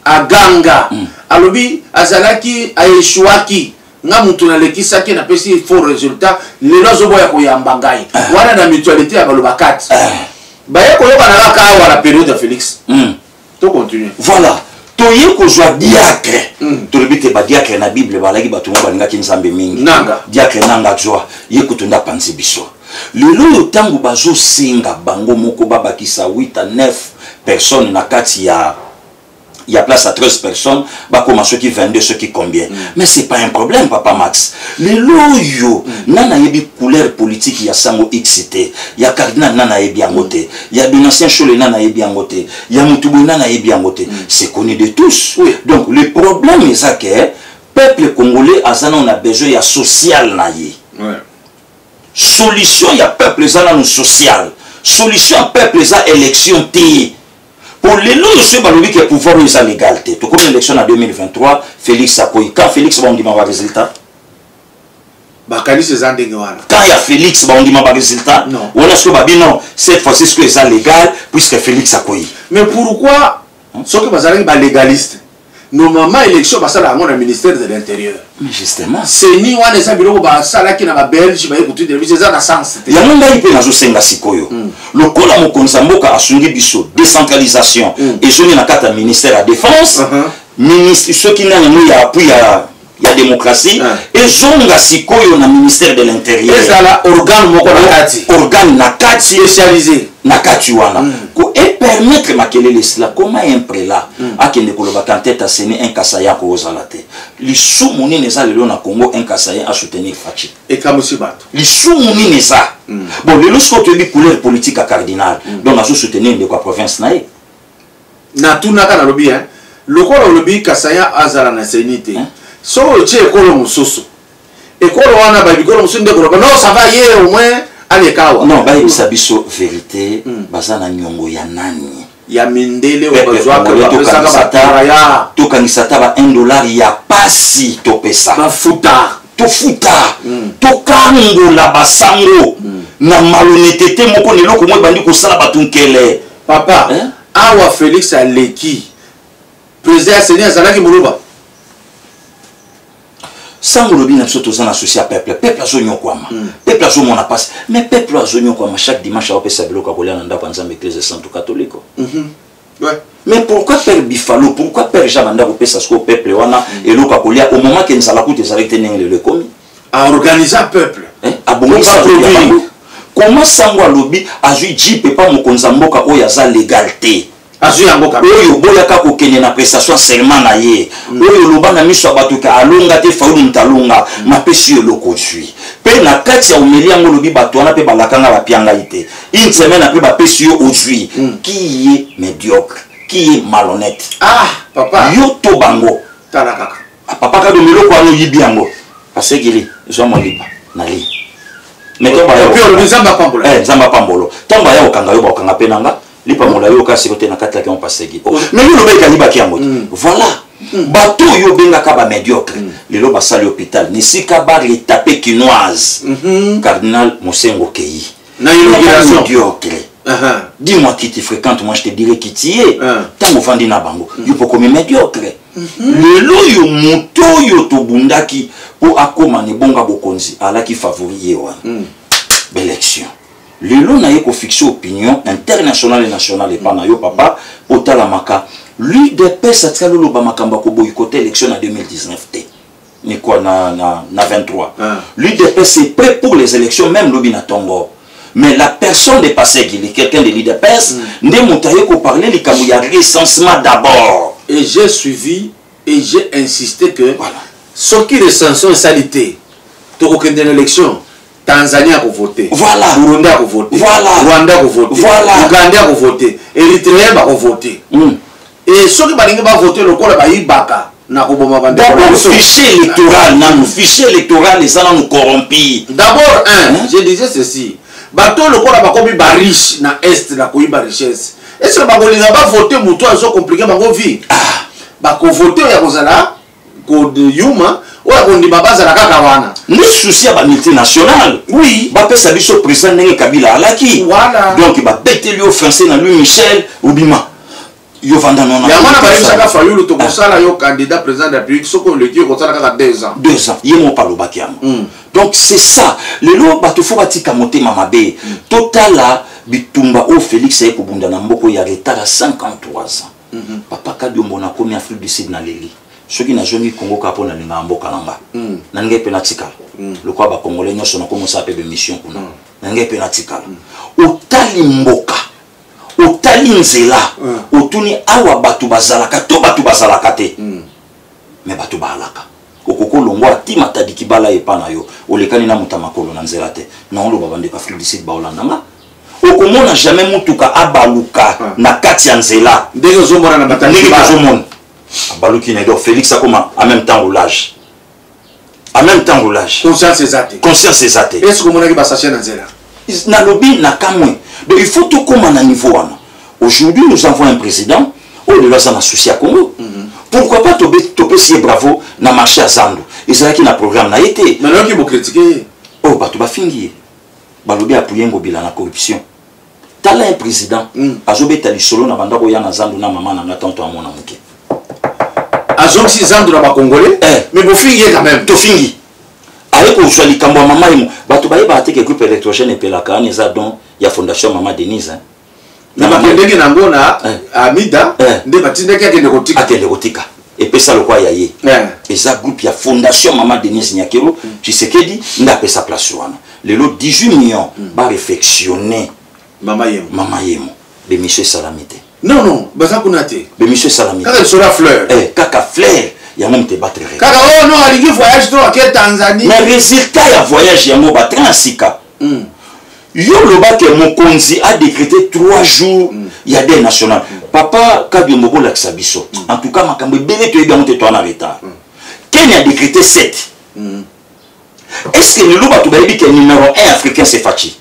aganga mm. alobi azalaki aeshuaki nga mutu nalekisaki napesi faux résultat lelo azoboya koyamba ngai ah. wana na mutualité ya baloba 4 ah. baye koyokana kaka awa na période ya félix hmm. to continue voilà toye kozwa diacre hmm. tolobi te badiacre na bible balaki bato mo balingaki nzambe mingi diacre nanga zwa ye kutu nde apanzi biso lelo oyo ntango bazosenga bango moko babakisa 8 a 9 personne na kati ya il y a place à 13 personnes bakoma soki 22 soki combien mm. mais c'est pas un problème papa max lelo oyo mm. nana ayebi couleur politique ya sango x te ya cardinal nana ayebi yango te mm. ya donatien chole nana ayebi yango te ya motu boye nana ayebi yango te mm. c'est connu de tous oui. donc le problème eza ke peuple congolais aza nano na besoin ya social na ye ouais. solution ya peuple eza nano social solution ya peuple eza élection te po lelo oyo soki balobi ke pouvoir oyo eza legal te tokomi élection na 2023 félix akoyi ka félix baondima ba résultat bakanisi eza ndenge wana kan ya félix baondima baresultat wana soki babi non cette fois-ci soki eza légal puisque félix akoyi mais pourquoi soki bazalaki balegaliste normalement élection basala yango na ministère de l'intérieur justement seni wana eza biloko basalaki na babelge baye kotindela biso eza na sens te yango ngai mpe nazosenga sikoyo mm. lokola mokonzi ya mboka asungi biso décentralisation mm. ezongi na kati ya ministère ya défense uh -huh. ministre soki nani yango ya appui ya ya demokrasi ah. ezonga sikoyo na ministère de l'interieur ezala organe moko na kati organe na kati spécialisé na kati wana mm. ko epermettre makelele sila koma un prela mm. akende koloba kantete aseni un kasaya akozala te lisumu nini eza lelo na congo un kasaya asoutenir faci ekamwisi bato lisumu nini eza mm. bon lelo sikoyo toyebi couleur politique ya cardinal mm. donc azosoutenir ndeko ya province na ye natunaka nalobi hein lokola olobi kasaya azala na seni te hein? soki otie ekolo mosusu ekolo wana bayebi ekolo mosusu nde koloba non ça va ye au moins aleka awa non bayebisa biso verite mm. baza na nyongo ya nani ya mindele oyo eh, eh, bazwaka bapesaka bataraya tokangisa ata ba 1 dollar ya pasi topesa bafuta tofuta mm. tokangola basango mm. na malonetete moko na eloko moko ebandi kosala bato nkele papa eh? awa felix aleki président ya seni azalaki muluba sango olobi na biso toza na souci ya peuple peuple azonyokwama mm. peuple azomona mpasi mais peuple oyo azonyokwama chaque dimanche aopesa biloko ya kolia na ndako ya nzambe eklise santu katoliko mm -hmm. ouais. mais pourquoi père bifalo pourquoi père jean banda kopesa sikoyo peuple wana mm. eloko ya kolia au moment ke nzala kutu ezalaki te ndenge lelo ekomi a organisa peuple eh, abongisa koma sango alobi azwi jeep epa mokonzi ya mboka oyo aza legal te azwi yango kaka oyo oboyaka kokende na prestation seulement na ye mm. oyo oloba na miso ya bato ke alonga te faulu moto alonga mm. napesi yo eloko ozwi mpe na kati ya omeli yango olobi bato wana mpe balakanga bapia ngai te une semaine apres bapesi yo ozwi mm. qui ye médiocre qui ye malhonnête ah papa yo to bango tala kaka papa kado miloko wana oyibi yango asekili zwa mwa lipa na li nzambe apambolo eh, ntango baya kokanga yo bakokanga mpe na nga lipa molai oyo kasi kote na kati laki yango paseki oh, mais yo lobaki alibaki yango te mm. voilà mm. bato oyo obengaka bamédiocre mm. lelo basali hôpital nisika bar etape kinoise mm-hmm. cardinal mosengo keyi na inauguration diocre uh-huh. dis-moi qui tu fréquentes moi je te dirai qui tu es ntango uh-huh. ofandi na bango uh-huh. yo mpo okomi médiocre uh-huh. lelo oyo moto oyo tobundaki mpo akóma na ebonga bokonzi alaki favori ye wana uh-huh. Mm. baélection lelo naye kofixe opinion international et national epa na yo papa otalamaka l'udps atikali oloba makambo ya koboyikote élection na 2019 te ni quoi na, na, na 23 ah. l'udps est prêt pour les élections même lobi na tongo mais la personne de passé gili quelqu'un de l'udps mm. nde moto aye koparle likambo ya recensement d'abord et j'ai suivi et j'ai insisté que voilà. soki recensement esali te tokokende na élection Tanzanie ako voter. Voilà. Burundi ako voter. Voilà. Rwanda ako voter. Voilà. Ouganda ako voter. Eritrea bako voter. Mm. Et soki balingi ba voter lokola bayibaka nakoboma bandfichier électoral nanu fichier électoral eza nanu corrompi d'abord un hein? je disais ceci bato oyo lokola bakomi bariche na est na koyiba richesse est ce que bakolinga bavote moto azokomplike bango vie ah. bakovote oyo ya kozala kodeyuma oyo akondima bazala kaka wana nde susi ya bamultinational oui bapesa biso président ndenge kabila alaki voilà. donc babeteli yo français na louis michel obima yo vanda nona yango wana bayebisaka fayulu tokosala yo candidat président de la république soki oleki okosala kaka deux ans deux ans ye moko alobaki yango hmm. donc c'est ça lelo bato fo batika motema mabe hmm. totala bitumba oyo félix aye kobunda na mboko ya retard ya 53 ans Mhm. papa kadiombo nakomi afrique du sud naleli soki nazongi congo kaka mpo nalingaka mboka na nga mhm. nalingai mpe natikala mhm. lokola bacongolais nyonso nakomosala mpe bemission kuna nalingai mpe natikala otali mboka otali nzela otuni awa bato bazalaka to bato bazalaka te me bato baalaka okoki olongwa ati matadiki bala epa na yo olekani na moto ya makolo na nzela te na oloba bandeko afrique du sud baolanda nga okomona jamais mutuka abaluka ah. na kati ya nzela ndenge ozomona na batali ndenge tozomona abaluki na donc félix akoma en même temps olage en même temps olage conscience eza te conscience eza te est ce que omonaki basache na nzela nalobi na kamwe donc il faut tokóma na niveau wana aujourd'hui nous avons un président oyo lelo aza na souci ya congo mm -hmm. pourquoi pas topesi ye bravo na marché ya zando ezalaki na programme na ye te oyo oh, bato bafingi ye balobi apuye ngobila na corruption tala un président mm. azobeta lisolo na banda koya na zandu na mama na nga tanto amona moke azongisi zandu na bacongolais eh. mais bofingi ye quand même tofingi aye kozwa likambo ya mama emo bato bayebaka te ke groupe électrogène epelaka wana eza don ya fondation mama denise hein. na bakendeki na yango na eh. amida eh. nde batindaki akende kotika akende kotika epesa lokola ya ye eh. eza groupe ya fondation mama denise nyakero mm. tshisekedi nde apesa place wana lelo 18 millions mm. barefectionne mama yemo mama yemo bemisio esalami te non non baza kuna te bemisio esalami kaka lisolo ya fleur kaka fleur yango moto ebattre kaka oyo oh, no alingi voyage to ake tanzanie mais résultat ya voyage yango batrin ya sika mm. yo loba ke mokonzi a décrété 3 jours mm. ya deuil national mm. papa kadiombo bolakisa biso mm. en tout cas makambo ebele toyebi yango te toa na retard mm. kenya a décrété 7 mm. est ce que lelo bato bayebi ke numéro 1 africain c'est faci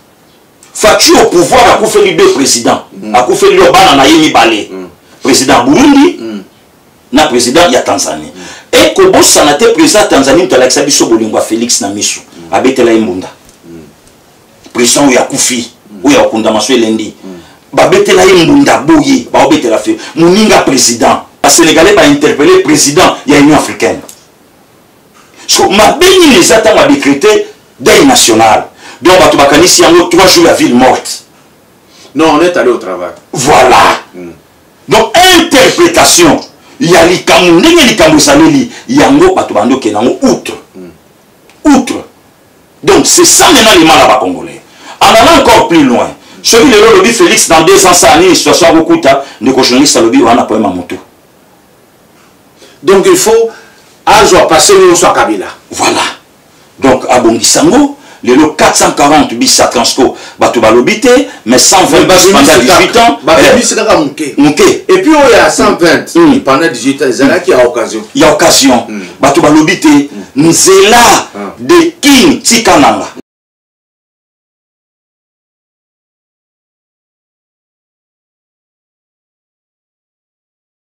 faci au pouvoir akufeli deux président mm. akufeli yo bana na ye mibale mm. président burundi mm. na président ya tanzanie mm. e kobosana te président ya tanzanie moto alakisa biso bolingo ya félix na miso mm. abetela ye mbunda mm. président oyo akufi mm. oyo akundama so elendi mm. babetela ye mbunda boye baobetela fe moninga président basénégalais bainterpele président ya union africaine so mabe nini eza ntango adécrété deuil national donc bato bakanisi yango trois jours ya ville morte non on est allé au travail voilà mm. donc interprétation ya likambo ndenge likambo esaleli yango bato bandi okende yango outre hmm. outre donc c'est ça maintenant les mal ya bacongolais en allant encore plus loin soki lelo olobi félix dans deux ans saa nini situation akokuta ndeko journaliste alobi wana poema motu donc il faut azwa passé nyonso ya kabila voilà donc abongisa ngo lelo 440 bis ya transco bato balobi te mais 120 bis pendant 18 ans babimisi eh, kaka moke moke et puis oyo ya 120 mm. mm. pendant 18 ans ezalaki ya occasion ya occasion mm. bato balobi te mm. nzela ah. de king tika nanga